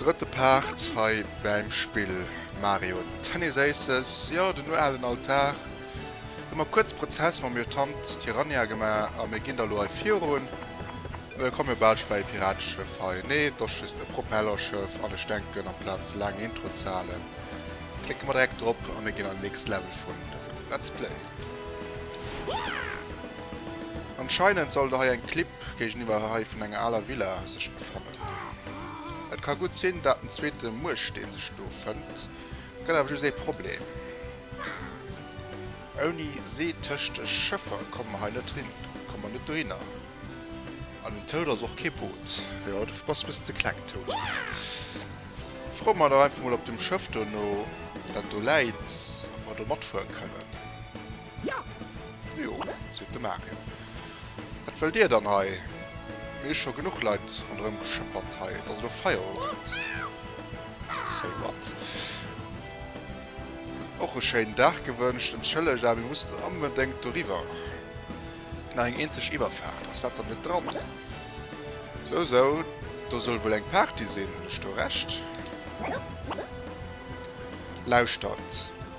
Drëtte Part hei bäim Spill Mario Tennis Aces. Jo, den uralen Altar. Hu mer kuerz Prozess mam Lieutant Tyrannia gemaach a mir ginn da lo hei virun. Mir komme jo bal scho bäi e Pirateschëff hei. Nee, et ass just e Propellerschëff an ech denken amplaz laang Intro ze halen, klécke mer direkt drop a mir ginn an den nächste Level vun dësem Let's Play. Anscheinend sollt der hei eng Clip géigeniwwer hei vun enger aler Villa sech befannen. Et ka gutt sinn dat den zweete Muersteen sech do fënnt, et gëtt awer just ee Problem, ouni See tëscht de Schëffer komme mer hei net hin, komme mer net dohinner. An den Toad ass och kee Boot, jo dofir bass de e bëssen ze kleng Toad. Froe mer dach einfach mol op dem Schëff dono dat do läit, ob mer do matfuere kënnen. Jo, seet de Mario. Wat wëllt dir dann hei? Mir hu scho genuch Leit ronderëm geschëppert hei. Et ass elo Feierowend. Say what? Och e schéinen Dag gewënscht. Entschëllegt, awer mir mussen onbedéngt doriwwer. Nach eng eenzeg Iwwerfaart. Ass dat dann net dran? Sou, sou. Do soll wuel eng Party sinn. Hunn ech do Recht? Lauschtert.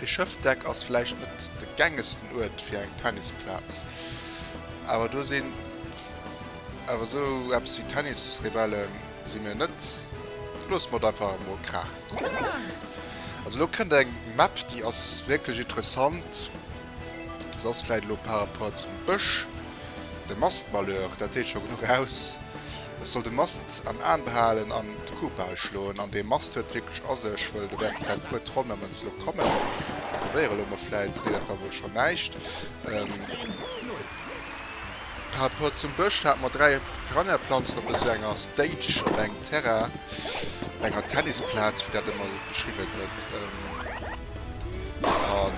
E Schëffdeck ass vläicht net de gängesten Uert fir eng Tennisplaz, awer do sinn awer esou eppes wéi Tennisrebellen si mir net. Loosse mer et einfach emol kraachen kommen. Also elo kënnt eng Map, déi ass wierklech interessant. Se ass vläicht elo par rapport zum Bësch. De Mast malheur, dat seet scho genuch aus. Ech soll de Mast am Aan behalen an d'Kuhpal schloen. An dee Mast huet wierklech a sech, wëll do wäerte vläit e puer Tronn nëmmen zlok kommen. Ech probéiere lo mol vläit, nee dat war wuel scho näischt. Par rapport zum Bësch hate mer 3 Piranhaplanzen op esou enger Stage, op engem Terrain, op enger Tennisplaz, wéi dat ëmmer beschriwwen gëtt. An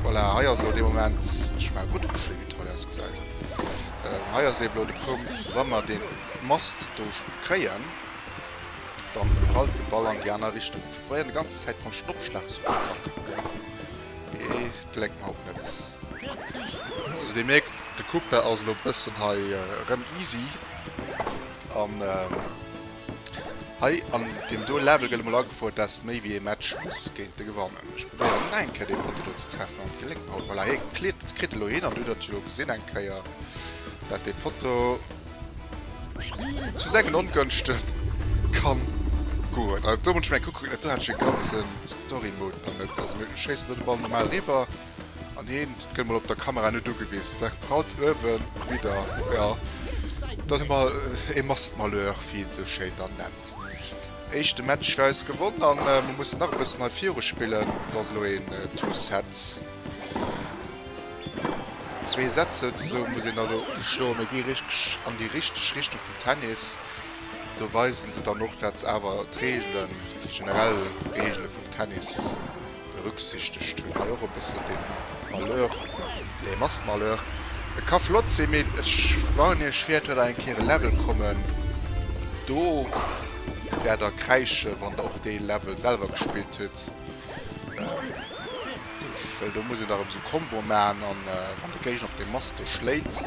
voilà, hei ass elo de Moment, ech menge gutt Geschéi, wéi d'Toile ausgesäit. Ähm, hei ass eben elo de Punkt, wa mer dee Mast do kréien, dann prallt de Ball an déi aner Richtung. Ech probéieren déi ganz Zäit vun Schnoppschlag ze verpacken, mee geléngt mer haut net. Also Dir mierkt, de Kupe ass elo e bëssen hei erëm easy an. Hei an deem do Level gëtt emol agefouert dass méi wéi ee Match muss géint de gewannen. Ech probéieren nach eng Kéier dee Potti do ze treffen an et geléngt mer och. Voilà hee kleet kritt elo hin an du hutt dat jo elo gesinn eng Kéier dat dee Potto zu sengen Ongënschte kann goen. Also do muss ech meng Kuck kucken, do hat ech e ganze Story Mode nach net. Also mir schéissen do de Ball normal riwwer. An heen gëtt mol op der Kamera net ugewiss. Sec Braut uewen widder, jo dann hu mer ee Mastmalheur wéi een sou schéin dann nennt. Éischte Match fir eis gewonn an mer mussen nach e bëssen hei viru spillen. Et ass elo een Two-Set. Zwee Set souzesoen muss een dann elo schloen. Mir gi richteg an déi richteg Richtung vum Tennis. Do weisen se dann och dat se awer d'Reegelen, déi generell Reegele vum Tennis. berücksichtegt hun, hei och e bessen den Malheur, nee Massenmalheur, e ka flott sin, mee ech warnen iech fier, et wert awer eng Kéier e Level kommen, do wert der kräischen wann der och dee Level selwer gespillt hutt, well do muss een dach emmer sou Comboen machen, an wann de Géigner op deem Mast do schléit,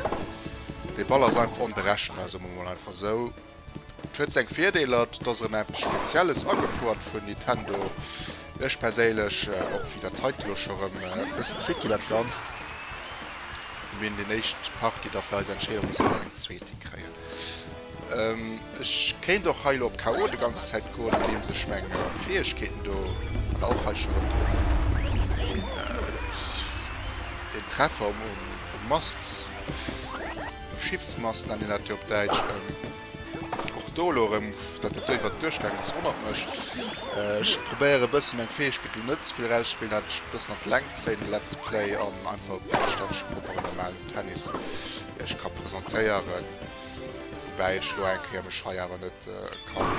dee Ball ass einfach onberechenbar, soe mer mol einfach sou. Et huet seng Virdeeler, et ass erëm eppes Spezielles agefouert vun Nintendo. Ech perséinlech, och wéi dat heite lo scho rëm e bësse quickie dat Ganzt, mir hunn déi éischt Partie, da fir eis Entscheedung muss een nach eng zweete kréien. Ech kéint och hei lo op KO déi ganz Zäit goen, andeems ech meng Fäegkeeten do, voilà, och hei scho rëm deen Treffer um Mast. Schiffsmast nennt een dat jo op Däitsch. Och do elo erëm, datt et do iwwert d'Duerch gaangen ass, wonnert mech. Ech probéiere e bësse meng Fäegkeet do net ze vill erausspillen, dat ech e bëssen an d'Längt zéien, de Let's Play, an einfach e puer Stännche proper an normalen Tennis iech ka presentéieren. Woubäi ech elo eng Kéier mech hei awer net ka,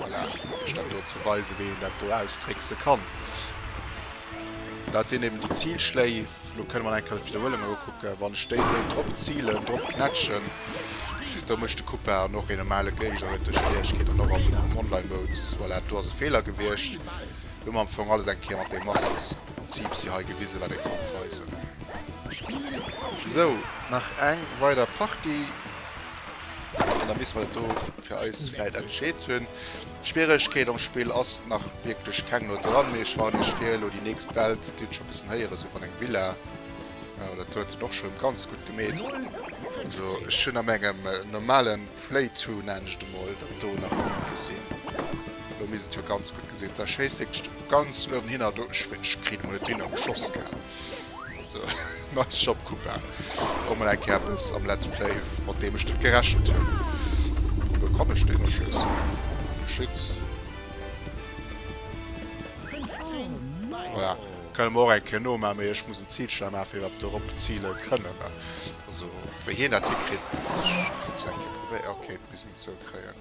voilà, iech dat do ze weisen, wéi een dat do austrickse kann. Dat sinn eben déi Zilschléif. Lo kënne mer enke Wiederhuelung elo kucken. Wann ech déi esou drop zilen, drop knätschen, do mécht de Coupa an och een normale Géigner huet do Schwieregkeet. An och am Online-Mode, voilà, do ass e Feeler gewiescht. Hu mer am Fong alles eng Kéier mat deem Mast-Ziipsi hei gewisen, wat e konnt weisen. Sou, nach eng weider Partie. An da misst mer dat do fir eis vläit entscheet hunn. Schwieregkeet am Spill ass nach wierklech keng no dran, mee ech waren iech fir elo déi nächst Welt d'Site scho bëssen héieren, sou wann eng Villa, jo dat huet en och schon ganz gutt gemeet, also ech hunn a mengem normalen Playthrough nennen ech et emol dat do nach nie gesinn, elo misst et jo ganz gutt gesinn sinn, schéisst wierklech do ganz uewen hinner, do ech kritt emol net hin, op geschoss gell. So nice job Kupa, och mol eng Kéier eppes am Let's Play mat deem ech net gerechent hunn. Wouduer kann ech deen erschéissen? Oh shit. Voilà, kënne mer och eng Kéier nomaan, mee ech muss en Zil schnell maachen fir iwwerhaapt dorop ziile kënnen. Also wéi hien dat hikritt, ech kann es eng Kéier probéieren. Ok, et muss een zou kréien.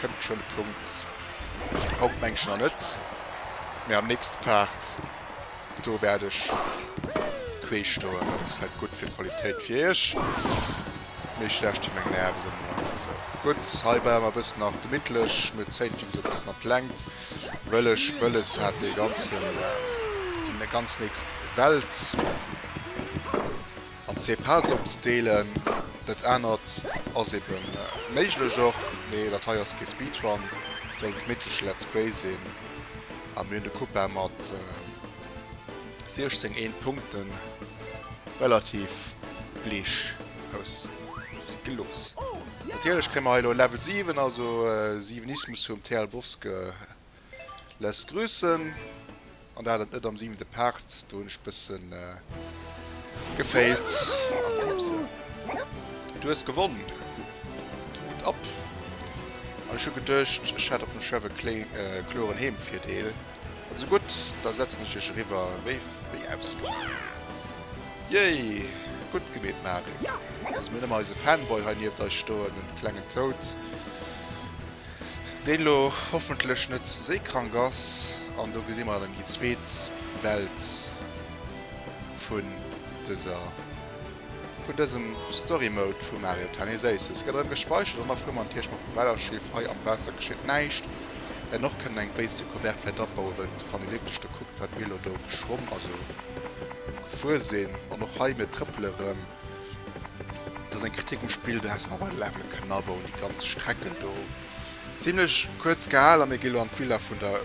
Kënnt geschwënn e Punkt. Haut mengt ech nach net, mee am nächste Part, do wäert ech quee stoen. Dat ass net gutt fir d'Qualitéit fir iech, mee ech laanschten meng Nerven elo mol einfach sou. Gutt, hei bleiwe mer e bëssen nach gemittlech. Mir zéien d'Video e bëssen an d'Längt, wëll ech wëlles hat dee ganzen, déi ganz nächst Welt. An zwee Parts opzedeelen, dat anert ass ebe méiglech och, mee dat hei ass kee Speedrun, soll e gemittleche Let's Play sinn. A mir hunn de Cupa mat 16 1 Punkten relativ bleech aus si gelooss. Natierlech kréie mer hei elo en Level 7, also 7ismus vum Thea Lbowske Lässt grüssen. An dat et net am siwente Part, do hunn ech bëssen gefailt. An deem Sënn, du hues gewonn. Hut ab. An ech hu geduecht, ech hätt op dem Chef e kloren Heemvirdeel. Also gutt, da setzen ech dech eriwwer, wéi ausgemaach. Jéi! Gutt gemeet, Marie. Loosse mir net emmer eise Fanboy hei nieft eis stoen, den klengen Toad. Deen elo hoffentlech net ze séikrank ass, an do gesi mer dann déi zweet Welt vun dëser, vun dësem Story Mode vum Mario Tennis Aces. Et gëtt erëm gespäichert an da fuere mer natierlech mam Propellerschiff. Hei am Waasser geschitt näischt. Mir hätten och kënnen eng béis Decouverte vläicht abauen, well wann ee wierklech do kuckt, wat mir elo do geschwomm, also gefuer sinn, an och hei, mir trëppele rëm, Et ass eng Kritik um Spill, do häss nach bei de Levele kënnen abauen, déi ganz Strecken do zimlech kuerz gehal. A mir gi lo an d'Villa vun der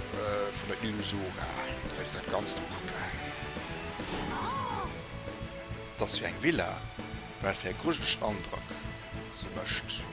vun der Illusora, déi eis dat Ganzt ukucken. Et ass jo eng Villa, wat fir e grujelegen Androck se mécht.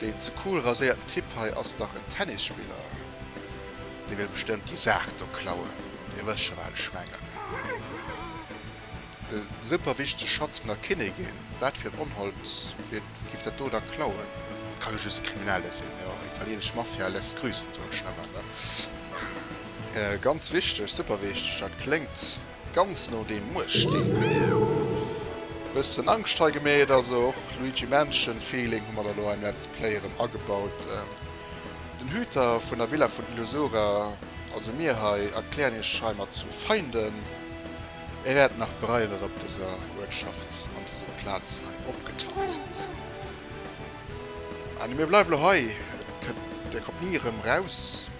Deen ze cool raséierten Typ hei ass dach en Tennisspiller. Dee wëll bestëmmt déi Saach do klauen. Dir wësst scho wat ech mengen. De super wichtege Schatz vun der Kinnigin. Wat fir en Onhold giff dat do da klauen? Et kann jo just e Kriminelle sinn. Jo, italienesch Mafia lässt grüßen, soen ech nëmmen. Ganz wichteg, super wichteg, dat kléngt. Ganz no deem Muersteen. Bëssen Angscht hei gemeet, also och Luigi Mansion Feeling hu mer der lo hei am Let's Play erëm agebaut. Den Hüter vun der Villa vun Illusura, also mir hei, erklären iech heimat zu Feinden. Är wäert nach bereien dat op dëser Uertschaft an dëse Plazen hei opgetaucht sidd. An mir bleiwe lo hei, et kënnt, dir kommt ni erëm raus.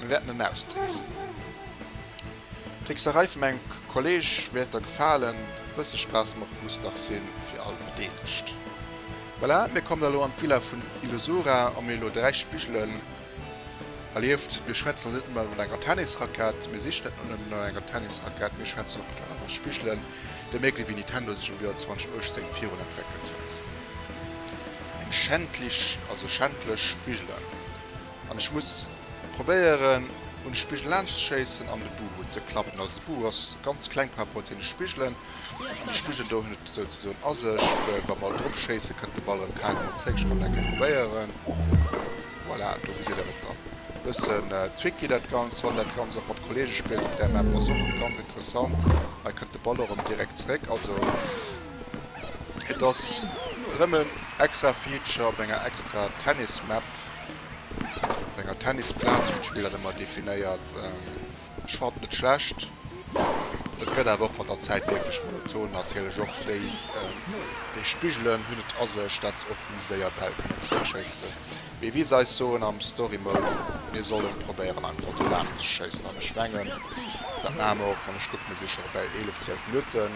Mir wäerten en austricksen. D'Trickserei vum engem Kolleg wäert der gefalen, e bësse Spaass mocht muss dach sinn fir all Bedeelegt. Voilà, mir kommen elo an d'Villa vun Illusura, a mir elo 3 Spigelen. Erlieft, mir schwätzen elo net nëmmen vun enger Tennisrackett, mir sichen net nëmmen no enger Tennisrackett, mir schwätzen och mittlerweil no Spigelen, da mierkt ee wéi Nintendo sech am Joer 2018 virun entwéckelt huet. Eng schändlich, also schändlech Spigelen. An ech muss probéieren un de Spigel laanscht ze schéissen an de Buhu ze klappen. Also de Buhu ass ganz kleng par rapport zu den Spigelen. An de Spigel do hunn et souzesoen a sech, well wa mer drop schéisse kënnt de Ball erëm kaer emol zréck. Ech kann et eng Kéier probéieren. Voilà, do gesitt der et dann. E bëssen tricky dat Ganzt, wann dat Ganzt och mat Kollege spillt op där Map ass och ganz interessant. Hei kënnt de Ball och erëm direkt zréck. Also et ass erëm en extra Feature op enger extra Tennis Map. Op enger Tennisplaz hunn d'Spiller Nëmmer definéiert. Ech fannen et schlecht. Et gëtt awer och mat der Zäit wierklech monoton. Natierlech och déi, déi Spigelen hunn et a sech, dat se och méi séier Bäll kënnen zeréckschéisse wéi wéi se eis soen am Story Mode, mir sollen probéieren einfach do laang ze schéissen. An ech mengen, dat maache mer och. Wann ech kucken, mir si scho bäi 11, 12 Minutten.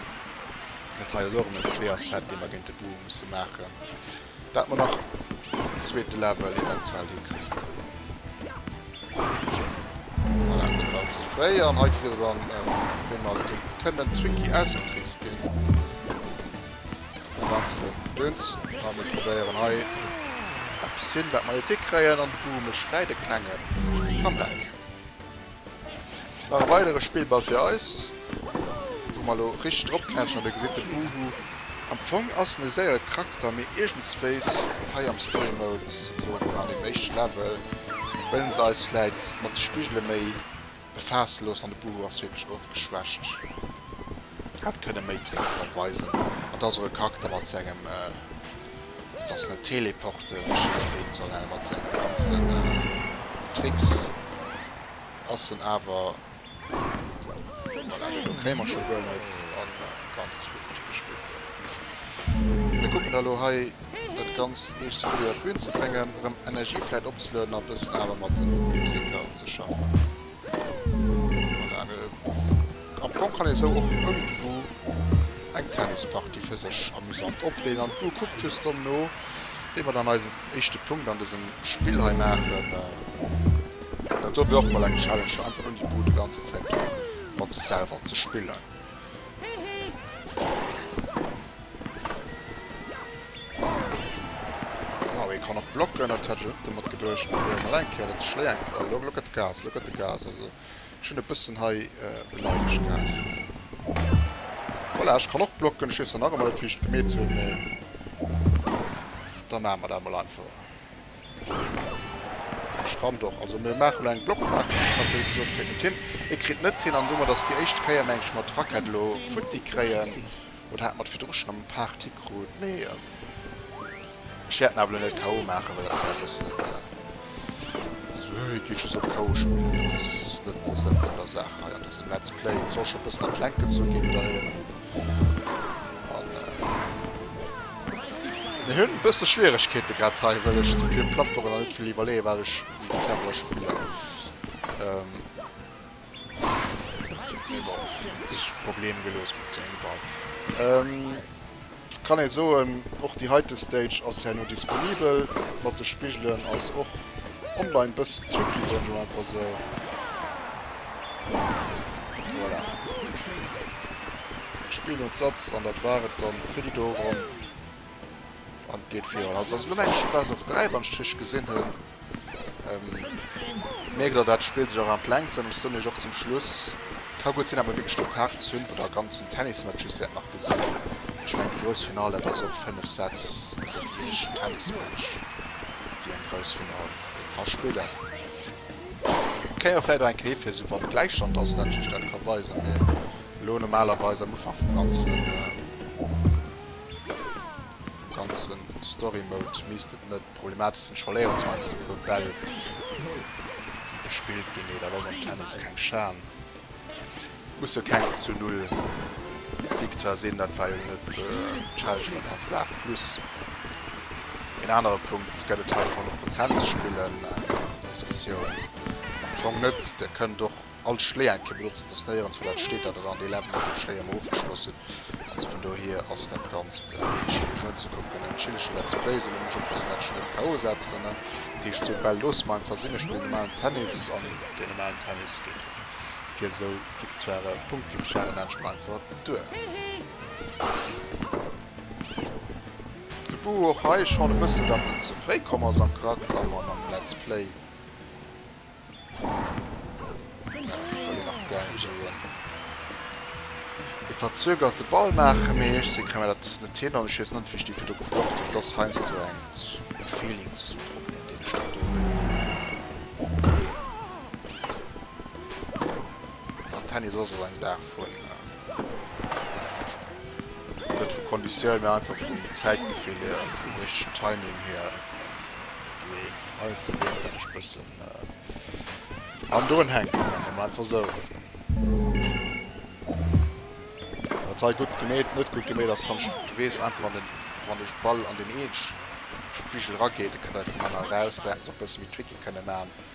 Et ha jo dorëmmen zwee Asseten, déi mer géint de Bur musse maachen. Daat mer nach en zweete Level eventuell hinkréien. Voilà, dat war e bësse fréi. An hei gesitt der dann wéi mer dem kënnen Twinkie ausgetrickst ginn. Dee ganze Gedöns. A mir probéieren hei eppes hin wat mer net hikréien. An de Buru mécht fläit e klenge Comeback. Nach e weidere Spillball fir eis, wou mer elo richteg drop knätschen. An Dir gesitt de Bouhou. Am Fong ass en e séiere Charakter, mee iergendswéis hei am Story Mode oder an deem éischte Level wëllen se eis vläit mat de Spigele méi befaasse loossen an de Bouhou ass wierklech ofgeschwächt. Hätt kënne méi Tricks erweisen. An et ass och e Charakter mat sengem Et ass net Teleporte wéi Schießtraining, sondern mat sengen ganzen Tricks ass en awer, voilà, den Dock héieren mer scho guer net, an ganz gutt gespillt den. Mir kucken da lo hei dat ganzt eescht sou guer iwwer d'Bühn ze bréngen, rem Energie vläit opzelueden a bëssen awer mat den Trinker ze schaffen. Am Fong kann ee sou och ouni de Goût eng Tennispartie fir sech amusant opdeelen an d'Goût kuckt just dann no wéi mer dann eisen éischte Punkt an dësem Spill hei maachen. Dat dofir och mol eng Challenge fir einfach ouni Goût e ganze Zäit do mat sech selwer ze spillen. Wow, hie kann och blocken, dat hat ech net domat geduecht. Mee hei eng Kéier dat Schléi eng. Oh lo gëtt Gas, lo gëtt e Gas. Also ech hunn e bëssen hei beleidegt gehat. Voilà, ech kann och blocken. Ech weess dann nach ëmmer net wéi ech et gemeet hunn, mee da maache mer dat emol einfach. Strand och. Also mir maachen elo eng Blockparty. Ech hunn natierlech gesot, ech kréien et hin. Et kritt net hin. An domat ass déi éischt Kéier, meng ech, mat Rackett elo futti kréien. Oder hat mat virdru schonn am Park d'Hi krut? Mee ech wäert en awer elo net KO maachen, well dat wär e bëssen esou, Hö, hie geet just op KO spillen. Dat ass net de Sënn vun der Saach hei an dësem Let's Play. Et soll scho e bëssen a d'Längt gezu ginn, oder? Mir hunn e bësse Schwieregkeete grad hei, well ech ze vill plapperen a net vill iwwerleeën, wat ech méi cleverer spillen. Mee bon, et ass e Problem gelooss mat sengem Ball. Kann ee soen, och déi heite Stage ass herno disponibel. Mat de Spigelen ass och online e bësse tricky, soen ech emol einfach esou. Voilà. D'Spill huet Satz an dat war et dann fir déi do Ronn. An et geet virun. Also ass elo eng Chute barrage of 3, wann ech et richteg gesinn hunn. Ähm, mierkt der, dat d'Spill sech och an d'Längt zënn. Ech soen iech och zum Schluss, ka gutt sinn, datt mer wierklech do Parts hunn, wou der ganzen Tennismatches wäert nach gesinn. Ech mengen déi grouss Final, dat ass och 5 Sätz, also wéi ee richtegen Tennismatch, wéi eng grouss Final een ka spillen. Kéier vläit och eng Kéi fir esou wann Gläichstand ass dat just dat ka weisen mee elo normalerweis am Ufank vum ganzen vum ganzen Story Mode misst et net problematesch sinn. Ech verléieren zwar einfach e puer Bäll déi gespillt ginn mee dat ass am Tennis keng Schan. Muss jo keng zu null Victoire sinn, dat war jo net d'Challenge vun haut. Acht plus een anere Punkt gëtt et hei fir 100 Prozent ze spillen. Eng Diskussioun am Fong net. Dir kënnt och all Schléi eng Kéier benotzen, et ass néierens wou dat steet, datt der dann dee Level mat dem Schléi ëmmer ofgeschloss hutt. Also vun dohier ass dat Ganzt méi chilleg unzekucken. Eng chilleg Let's Play, soulaang ech oppassen, datt ech net KO setzen. Dat heescht, sou d'Bäll loosse mer einfach sinn. Ech spillen normalen Tennis an dee normalen Tennis geet och. fir esou Victoiren, Punktvictoiren enn Schweinfurt duer. De Buh och hei, ech fanne bëssen dat en ze fréi komm ass am Charakter an am Let's Play. E verzögerte Ball maachen, mee ech si kann mir dat net hin an ech weess net wéi ech déi virdu geblockt hunn. Dass heiansdo eng Feelingsproblem deen ech dann do hunn. An Tennis ass och eng Saach vun, net vu Konditioun, mä einfach vum Zäitgefill hier, vum richtegen Timing hier, wou een alles dobréngt, dat ech bëssen an drun hänken. Dat mol mer einfach esou. Wat hei gutt gemeet, net gutt gemeet ass, hannscht de weess einfach, wann den, wann de Ball an den Eech-Spigel erageet, da kënnt eis den Mann eraus, da hätte se och e bësse méi Tricky kënne maachen.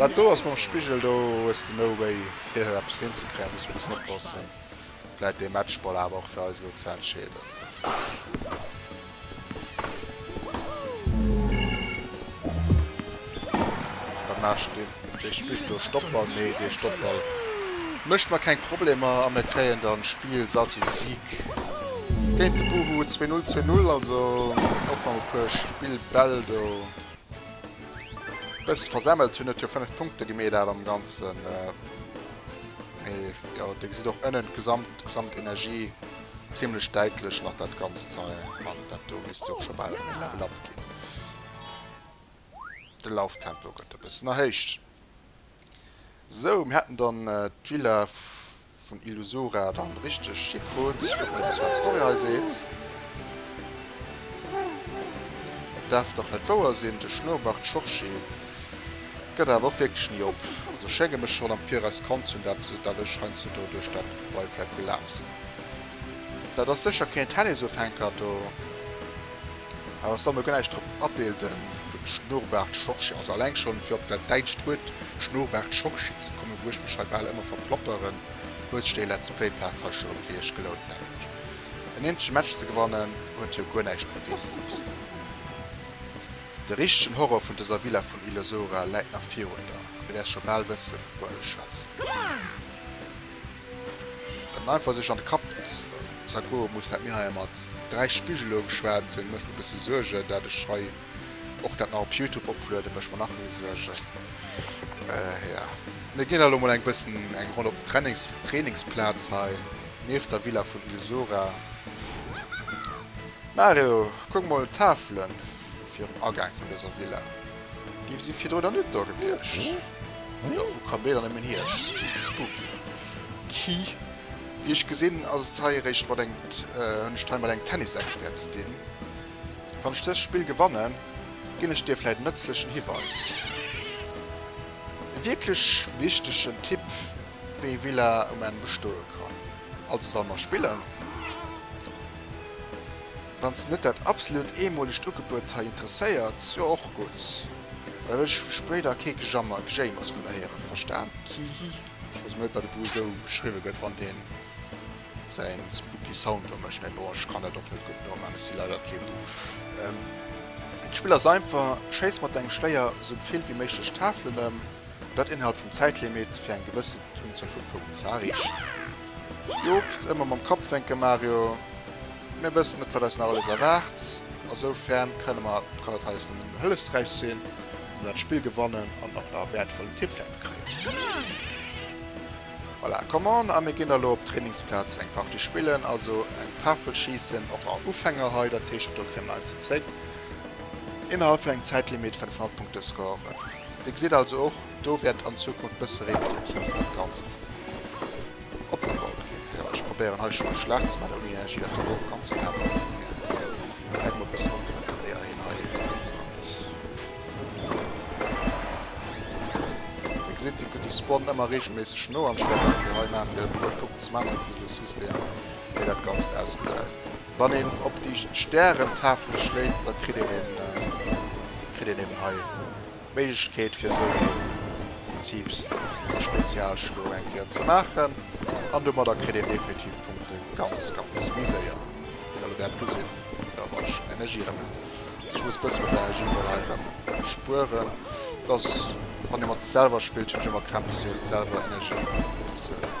Dat do ass mam Spigel, do hues de no way fir eppes hinzekréien, muss bëssen oppassen. Vläit dee Matchball awer och fir eis elo ze entscheeden. Dat maach ech dinn. Dee spillt do Stoppball, mee dee Stoppball mécht mer keng Problemer a mir kréien dann d'Spill Salz und Sieg géint de Boohoo. Zwee Null, zwee Null, also och wann e puer Spillbäll do bësse versemmelt hunn, huet jo 5 Punkte gi, mee dat am Ganzen, mee jo, Dir gesitt och ënnen d'Gesamt, d'Gesamtenergie zimmlech däitlech nach dat Ganzt hei an dat do misst jo och scho bal en Level-Up ginn. De Lauftempo gëtt e bëssen erhéicht. Sou, mir hätten dann d'Villa vun Illusura dann richteg hikrut. Kucken eppes wat d'Story hei seet. Et däerf dach net wouer sinn, de Schnourbart Schorchi gëtt awer och wierklech ni op. Also ech schénge mech schonn am Viraus kannt ze hunn, dat dat ech heiansdo duerch dat Gebai vläit gelaf sinn. Dat ass sécher keen Tennisofhänker do. Awer soll mer guer näischt drop abilden. Den Schnurrbart Schorsch, also alleng schon fir op dat däitscht Wuert Schnurrbart Schorschi ze kommen, wou ech mech hei bal ëmmer verplopperen, huet sech dee Let's Play Part hei scho fir iech gelount. Nämlech en ähnleche Match ze gewannen, huet jo guer näischt beweese mussen. De richtegen Horror vun dëser Villa vun Illusora läit nach virun der, wéi der scho bal wësse vu wuem ech schwätzen. An einfach sech an de Kapp zergoe muss, dat mir hei mat 3 Spigelunge schwätzen, mécht mir e bësse Suergen. Dat ech hei och dat nach op Youtube oplueden, mécht mer nach méi Suergen. Jo, mir ginn da lo mol eng bëssen eng Ronn op den Trainings, Trainingsplaz hei nieft der Villa vun Illusora. Mario, kuck mol d'Tafele virum Agaang vun dëser Villa. Gin si virdru nach net do gewiescht? Jo, wou kommt deen dann nëmmen hier? Spooky. Wéi ech gesinn, ass et hei eréischt mat eng, hunn ech et hei mat engem Tennis-Expert ze dinn. Wann ech dëst Spill gewannen, ginn ech dir vläit en nëtzlechen Hiweis. E wierklech wichtegen Tipp, wéi Villa um Enn bestoe kann. Also solle mer spillen? Wann s de net dat absolut eemolegt Ugebuet hei interesséiert, jo och gutt, well ech hu spéider kee Gejammer, Gejéimers vun der héieren, verstan? Kihi. Ech wousst mol net dat e Buch esou geschriwwe gëtt wann deen säin spooky Sound do mécht, mä bon ech kann dat och net gutt noman, ech si leider kee Buch. D'Spill ass einfach, schéiss mat dengem Schléier sou vill wéi méiglech Tafelen ëm, an dat innerhalb vum Zäitlimit fir eng gewëssen Unzuel vu Punkten ze erreechen. Joops, ëmmer mam Kapp wenken Mario. Mir wëssen net wat eis nach alles erwaart, esoufern kënne mer kann et eis nëmmen hëllefsräich sinn wa mer d'Spill gewannen an och nach wäertvollen Tipwäert kréien. Voilà, come on, a mir ginn da lo op d'Trainingsplaz eng Partie spillen, also eng Tafel schiessen, och a Ufänger hei, dat heescht do kréie mer eis zu zréck innerhalb vun engem Zäitlimit 500 Punkte scoren. Dir gesitt also och do wäert an Zukunft bësse repetitiv dat Ganzt. Opgebaut ginn. Jo, ech probéieren hei scho mech schlaach ze maachen, ouni Energie. Dat kann ech och ganz knapp hinkréien. Läit mol e bëssen op, wat dat Déier hien hei urannt. Dir gesitt, hie kënnt de Spawn ëmmer reegelméisseg no an ech wäert dat elo hei maachen, fir e puer Punkten ze maachen, dann gesitt Dir just een, wéi dat Ganzt ausgesäit. Wann een op déi Stärentafele schléit, da kritt een een, da kritt een eben hei. Méiglechkeet fir esou e Zipfspezialschlo eng Kéier ze maachen an domadder kritt een definitiv Punkte ganz ganz méi séier. Wéi der elo wäert gesinn, jo, wann ech Energie erëm hätt, dass ech muss e bësse mat der Energie mol hei erëm spueren, dass wann ee mat sech selwer spillt, hunn ech ëmmer Krämpes fir selwer Energie opzefänken.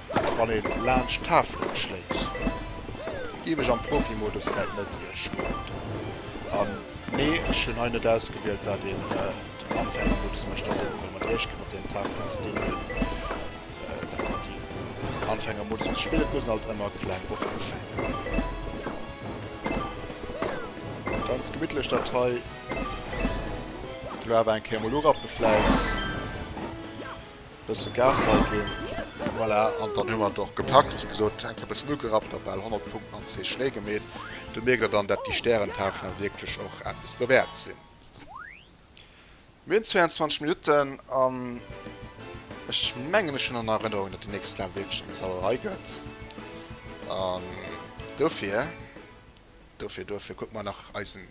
wann een laanscht Tafelen schléit giff ech am Profimodus läit net iech stoen an nee ech hunn hei net ausgewielt dat een den Anfängermodus mecht ass eben fir mat iech ginn op den Tafelen ze dingelen dat mer déi Anfängermodus muss spillen et mussen alt ëmmer kleng och ufänken ganz gemittlech dat hei elo awer eng Kéier mol urappe vläit. Bësse Gas hei ginn. Voilà, an dann hu mer et och gepackt. Wéi gesot, d'Hänke bëssen ugerappt a bal 100 Punkten an zwee Schnéi gemeet. Do mierkt der dann, dat déi Stärentafelen wierklech och eppes dowäert sinn. Mir hunn 22 Minutten an ech mengen, ech hunn an Erënnerung, dat déi nächst Lap wierklech eng Sauerei gëtt. An dofir Dofir, dofir kucke mer nach eisen,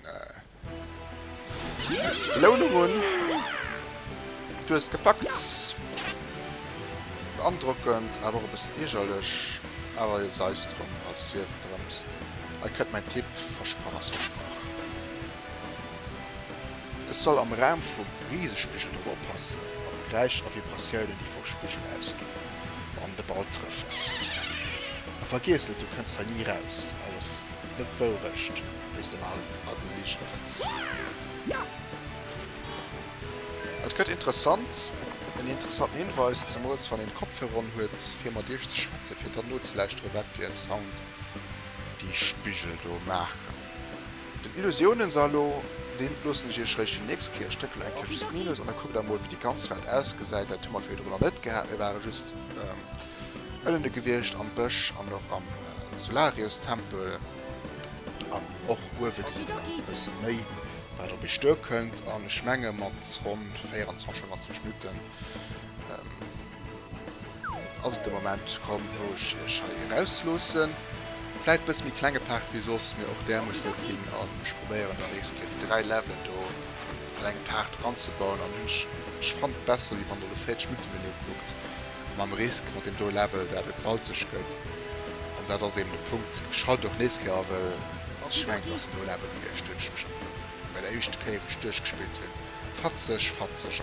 eis Belounung un. Du hues et gepackt! Beandrockend, awer och e bëssen iergerlech. Awer jo, sei es drum, also sief et drëms. Hei kënnt mäin Tipp, Versprach ass versprach. Ech soll am Raum vum Risespiggel drop oppassen, op d'Geräischer a Vibratiounen déi vum Spiggel ausginn wann de Ball trëfft. A vergiess net, du kënns hei ni raus, alles net Wourecht wéi s de nach a den Ligen fënns. Et gëtt interessant, en interessanten Hinweis, zemools wann een Kopfhörer on huet fir mat iech ze schwätzen, fir dann nozelauschteren wat fir e Sound déi Spiggel do maachen. Den Illusiounensalo, deen loossen ech iech réischt fir déi nächst Kierch. Dréckt elo eng Kéier just Minus an da kuckt emol wéi déi ganz Welt ausgesäit. Dat hu mer virdrun nach net gehat. Mir ware just ënnene gewiescht am Bësch an och am Solariustempel an och uewe gesitt een nach e bësse méi wat op iech duerkënnt an ech menge mat ronn 24, 25 Minutten Ass de Moment komm wou ech iech hei eraus loossen. Vläit bëss méi klenge Part wéi soss, mee och där muss net ginn an ech probéieren dann nächst Kéier déi 3 Levelen do an engem Part anzebauen an hunn ech fannt besser wéi wann der elo 40 Minutten deen ukuckt mam Risk mat deem do Level dat et salzeg gëtt an dat ass eben de Punkt. Ech schalte och nächst Kéier a well ech mengen et ass en do Level gewiescht hunn ech mech op bei der éischte Kéier wou ech duerchgespillt hunn fatzeg fatzeg.